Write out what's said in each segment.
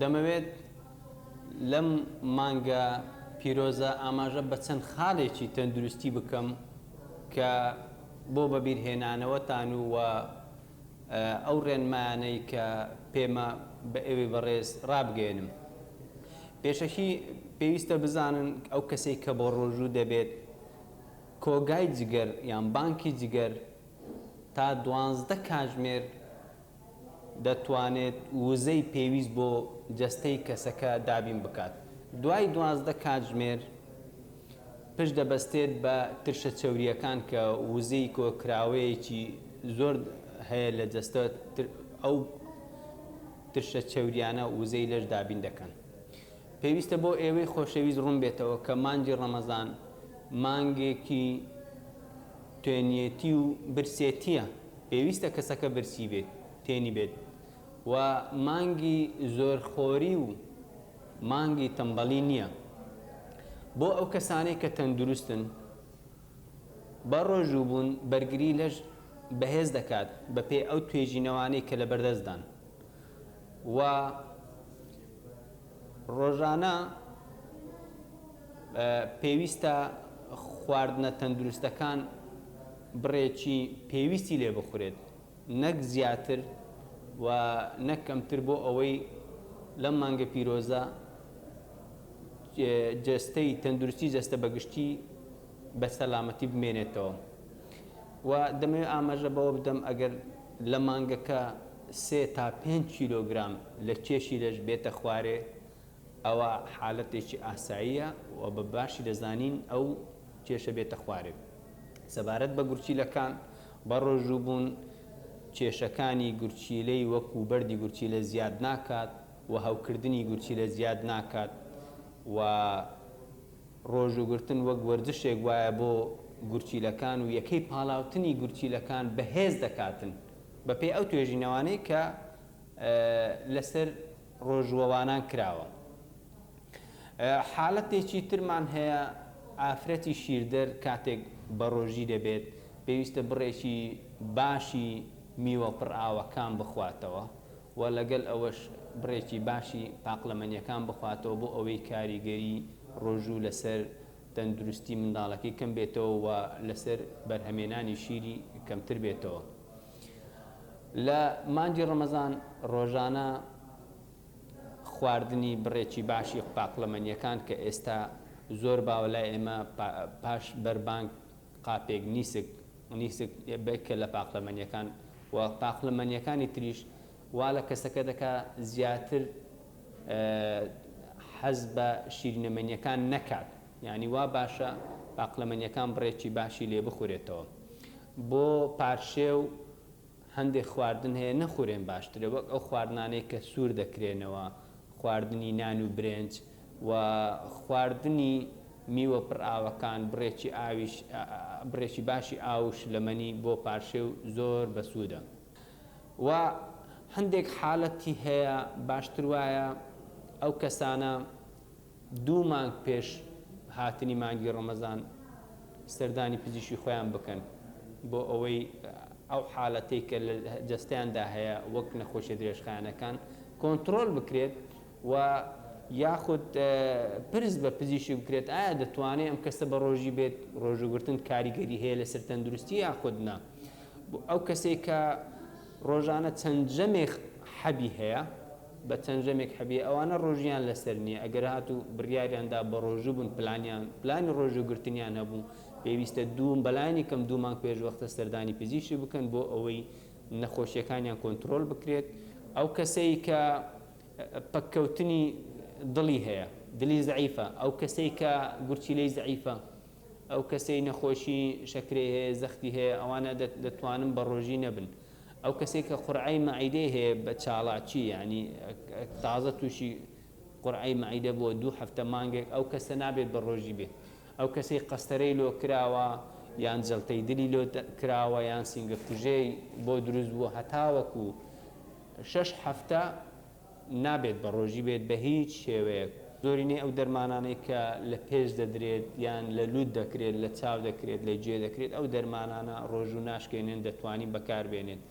دەمەوێت لەم مانگە پیرۆزە ئاماژە بە چەند خالێکی تەندروستی بکەم کە بۆ بەبیر هێنانەوەتان و وە ئەو ڕێنمایانەی کە پێمە بە ئێوەی بەڕێز ڕابگەیەنم. پێشەکی پێویستە بزانن ئەو کەسەی کە بۆ ڕۆژوو دەبێت کۆگای جگەر یان بانکی جگەر تا دوانزدە کاتژمێر دەتوانێت وزەی پێویست بۆ جەستەی کەسەکە دابین بکات دوای دوازدە کاتژمێر پشت دەبەستێت بە ترشە چەورییەکان کە وزەی کۆکراوەیەکی زۆر هەیە لە جەستە ئەو ترشە چەوریانە وزەی لەش دابین دەکەن پێویستە بۆ ئێوەی خۆشەویست ڕوون بێتەوە کە مانجی ڕەمەزان مانگێکی توێنیەتی و برسێتیە پێویستە کەسەکە برسی بێت تێنی بێت و مانگی زۆرخۆری و مانگی تەمبەڵی نییە بۆ ئەو کەسانەی کە تەندروستن بە ڕۆژوو بوون بەرگری لەش بەهێز دەکات بەپێی ئەو توێژینەوانەی کە لەبەردەستدان و ڕۆژانە پێویستە خواردنە تەندروستەکان بڕێکی پێویستی لێ بخورێت نەک زیاتر و نەک کەمتر بۆ ئەوەی لەم مانگە پیرۆزە جەستەی تەندروستی جەستە بەگشتی بە سەلامەتی بمێنێتەوە و دەمەوێت ئاماژە بەوە بدەم ئەگەر لە مانگەکە سێ تا پێنج کیلۆگرام لە کێشی لەش بێتە خوارێ ئەوا حالەتێکی ئاساییە و بە باشی دەزانین ئەو کێشە بێتە خوارێ. سەبارەت بە گورچیلەکان، بەڕۆژووبوون کێشەکانی گورچیلەی وەکو بەردی گورچیلە زیاد ناکات و هەوکردنی گورچیلە زیاد ناکات و ڕۆژووگرتن وەک وەرزشێک وایە بۆ گورچیلەکان و یەکەی پاڵاوتنی گورچیلەکان بەهێز دەکاتن. بە پێی ئەو توێژینەوانەی کە لە سەر ڕۆژووەوانان کراوە حالەتێکی ترمان هەیە ئافرەتی شیردەر کاتێک بە ڕۆژی دەبێت پێویستە بڕێکی باشی میوە پڕئاوەکان بخواتەوە و لەگەل ئەوەش بڕێکی باشی پاقلەمەنیەکان بخواتەوە بۆ ئەوەی کاریگەری ڕۆژوو لەسەر تەندروستی منداڵەکەی کەم بێتەوە و لەسەر بەرهەمێنانی شیری کەمتر بێتەوە لە مانگی ڕەمەزان ڕۆژانە خواردنی بڕێکی باشی پاقلەمەنیەکان کە ئێستا زۆر باوە لای ئێمە پاش بەربانگ قاپێک نیسک نیسک بکە لە پاقلەمەنیەکان و پاقلەمەنیەکانی تریش وا لە کەسەکە دەکا زیاتر حەز بە شیرینەمەنیەکان نەکات یانی وا باشە باقلەمەنیەکان بڕێکی باشی لێ بخورێتەوە بۆ پارشێو هەندێک خواردن هەیە نەخورێن باشترە وەک ئەو خواردنانەی کە سوور دەکرێنەوە خواردنی نان و برێنج و خواردنی میوە پڕ ئاوەکان بڕێکی ئاویش بڕێکی باشی ئاو و شلەمەنی بۆ پارشێو زۆر بەسوودە. و هەندێک حالەتی هەیە باشتر وایە ئەو کەسانە دوو مانگ پێش هاتنی مانگی ڕەمەزان سەردانی پزیشکی خۆیان بکەن بۆ ئەوەی ئەو حالەتەی کە لە جستیاندا هەیە وەک نەخۆشی درێژخانەکان کۆنتترۆل بکرێت و یاخود پرس بە پزیشی بکرێت ئایا دەتوانێت ئەم کەسە بە ڕۆژی بێت ڕۆژوگرتن کاریگەری هەیە لەسەر تەندروستی یاخودنا بۆ ئەو کەسەی کە ڕۆژانە چەند جەمێک حەبی هەیە بە چەند جەمێک حەبی ئەوانە ڕۆژیان لەسەر نییە ئەگەر هات و بڕیاریاندا بە ڕۆژوو بوون پلانیان پلانی ڕۆژوو گرتنیان هەبوو پێویستە دووم بەلایانی کەم دوو مانگ پێش وەختە سەردانی پزیشی بکەن بۆ ئەوەی نەخۆشیەکانیان کۆنتترۆل بکرێت ئەو کەسەی کە پەککەوتنی دڵی هەیە دلی زعیفە ئەو کەسەی کە گورچیلەی زعیفە ئەو کەسەی نەخۆشی شەکرەی هەیە زەختی هەیە ئەوانە دەتوانن بە ڕۆژی نەبن ئەو کەسێک کە قورعی مەعیدەی هەیە بە چاڵاکی یعنی تازە تووشی قورعی مەعیدە بۆ دوو هەفتە مانگێک ئەو کەسە نابێت بە ڕۆژی بێت ئەو کەسەی قەستەرەی لۆ کراوە یان جەڵتەی دلی لۆ کراوە یان سینگە کوژێی بۆ دروست بووە هەتاوەکو شەش هەفتە نابێت بە ڕۆژی بێت بە هیچ شێوەیەک، زۆرینەی ئەو دەرمانانەی کە لە پێست دەدرێت یان لە لوت دەکرێت لە چاو دەکرێت لە گوێ دەکرێت ئەو دەرمانانە ڕۆژوو ناشکێنێن دەتوانین بەکار بێنێت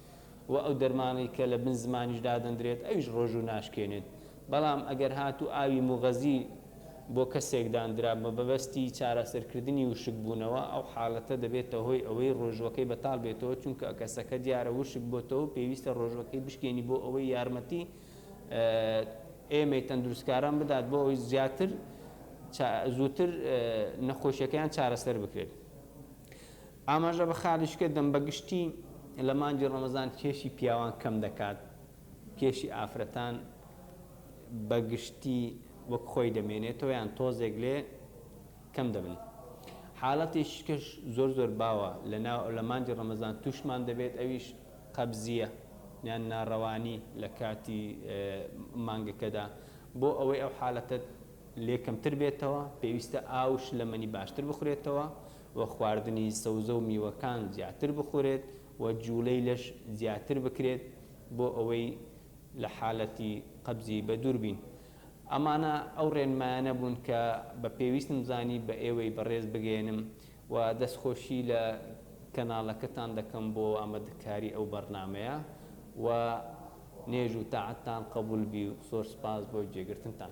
وە ئەو دەرمانەی کە لە بن زمانیش دادەندرێت ئەویش ڕۆژوو ناشکێنێت بەڵام ئەگەر هاتوو ئاوی موغەزی بۆ کەسێک داندرا بە مەبەستی چارەسەرکردنی وشکبوونەوە، ئەو حاڵەتە دەبێتە هۆی ئەوەی ڕۆژووەکەی بەتاڵ بێتەوە، چونکە کەسەکە دیارە وشک بۆتەوە و پێویستە ڕۆژووەکەی بشکێنی بۆ ئەوەی یارمەتی ئێمەی تەندروستکاران بدات بۆ ئەوەی زیاتر زووتر نەخۆشیەکەیان چارەسەر بکرێت. ئاماژە بە خالیشکە دەم بە گشتی لە مانگی ڕەمەزان کێشی پیاوان کەم دەکات، کێشی ئافرەتان بە گشتی وەک خۆی دەمێنێتەوە یان تۆزێک لێ کەم دەبن حالەتیش کەش زۆر زۆر باوە لە ناو لە مانجی ڕەمەزان توشمان دەبێت ئەویش قەبزیە یان ناڕەوانی لە کاتی مانگەکەدا بۆ ئەوەی ئەو حالەتە لێ کەمتر بێتەوە پێویستە ئاوش لەمەنی باشتر بخورێتەوە و خواردنی سەوزە و میوەکان زیاتر بخورێت و جوڵەی لەش زیاتر بکرێت بۆ ئەوەی لە حالەتی قەبزی بەدوور بین. ئەمانە ئەو ڕێنمایانە بوون کە بە پێویستم زانی بە ئێوەی بەڕێز بگەیەنم و دەستخۆشی لە کەناڵەکەتان دەکەم بۆ ئامادەکاری ئەو بەڕنامەیە و نێژ و تاعەتتان قەبوول بی و زۆر سپاس بۆ گوێگرتنتان.